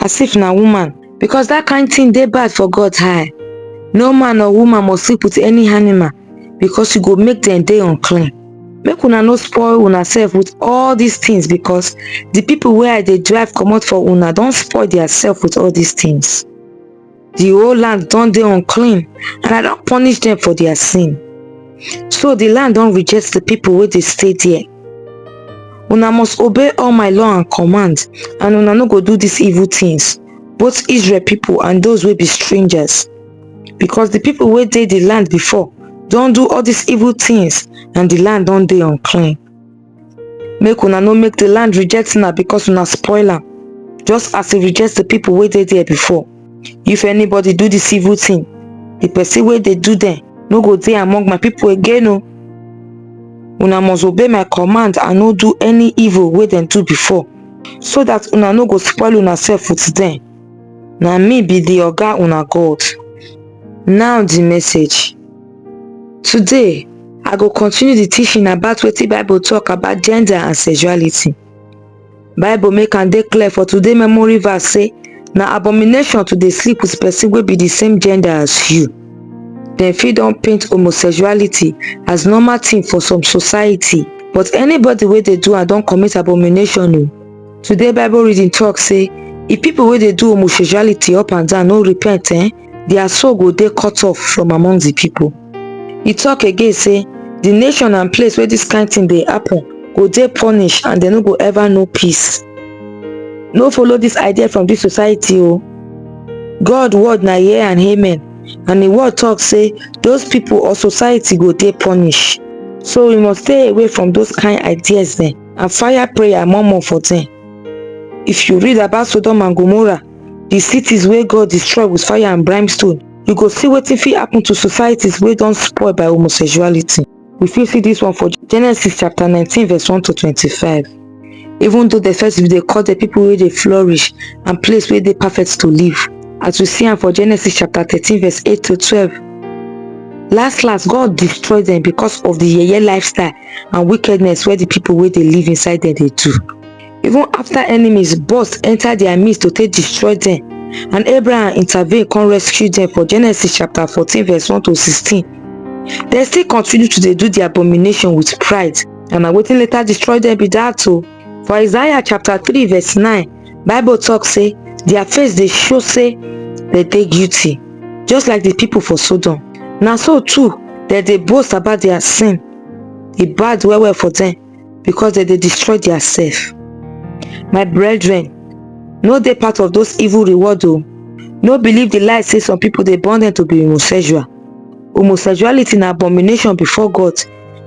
as if na woman because that kind thing dey bad for god high no man or woman must sleep with any animal because you go make them dey unclean make una no spoil una self with all these things because the people wey i dey drive comot for una don spoil their self with all these things the whole land don dey unclean and i don punish them for their sin so the land don reject the people wey dey stay there una must obey all my law and command and una no go do these evil things both israel people and those wey be strangers because the people wey dey the land before don do all these evil things and the land don dey unclean make una no make the land reject una because una spoil am just as e reject the people wey dey there before if anybody do this evil thing the person wey dey do them no go dey among my people again o una must obey my command and no do any evil wey dem do before so that una no go spoil una self with them na me be the oga una god now the message Today, I go continue the teaching about wetin Bible talk about gender and sexuality. Bible make am dey clear for today memory verse say na abomination to dey sleep with person wey be the same gender as you. Dem fit don paint homosexuality as normal thing for some society but anybody wey dey do am don commit abomination o. Today Bible reading talk say if people wey dey do homosexuality up and down no repent eh, dia soul go dey cut off from among di pipo e tok again say di nation and place wey dis kain tin dey happun go dey punished and dem no go ever know peace no follow dis idea from dis society o god word na yea and amen and im word tok say those pipo or society go dey punished so we must stay away from those kain ideas dem and fire prayer more more for dem if you read about sodom and gomorrah di cities wey god destroy wit fire and brimstone you go see wetin fit happun to societies wey don spoil by homosexuality we fit see dis one for genesis chapter nineteen verse one to twenty five even though dem first dey call dem pipo wey dey flourish and place wey dey perfect to live as we see am for genesis chapter thirteen verse eight to twelve last last god destroy dem becos of di yeye lifestyle and wickedness wey di pipo wey dey live inside dem dey do even after enemies burst enter their midst to take destroy them, and abraham intervene come rescue them for genesis chapter 14 verse 1 to 16 They still continue to dey do the abomination with pride and na wetin later destroy them be that o oh. for isaiah chapter 3 verse 9 bible talk say their face they show say they dey guilty just like the people for sodom Now so too that they boast about their sin e bad well well for them. because dem dey destroy their self my brethren no dey part of those evil reward o no believe the lie say some people dey born them to be homosexual homosexuality na abomination before god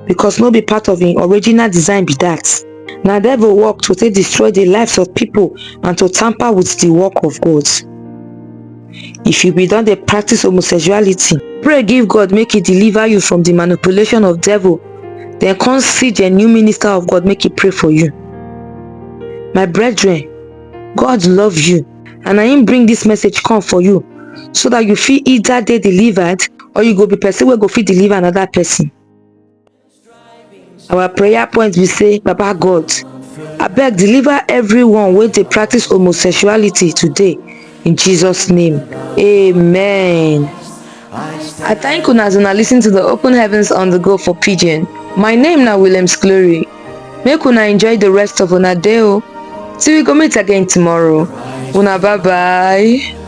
because no be part of him original design be that na devil work to take destroy the lives of people and to tamper with the work of god if you be don dey practice homosexuality pray give god make he deliver you from the manipulation of devil then come see the new minister of god make he pray for you my brethren god love you and i him bring this message come for you so that you feel either they delivered or you go be person where go feel deliver another person Our prayer point be say, Baba God, abeg deliver everyone wey dey practice homosexuality today in Jesus name. Amen. I thank una as una listen to the Open Heavens on the Go for Pidgin. My name na Williams Glory. Make una enjoy the rest of una day o. Till we go meet again tomorrow. Una bye bye.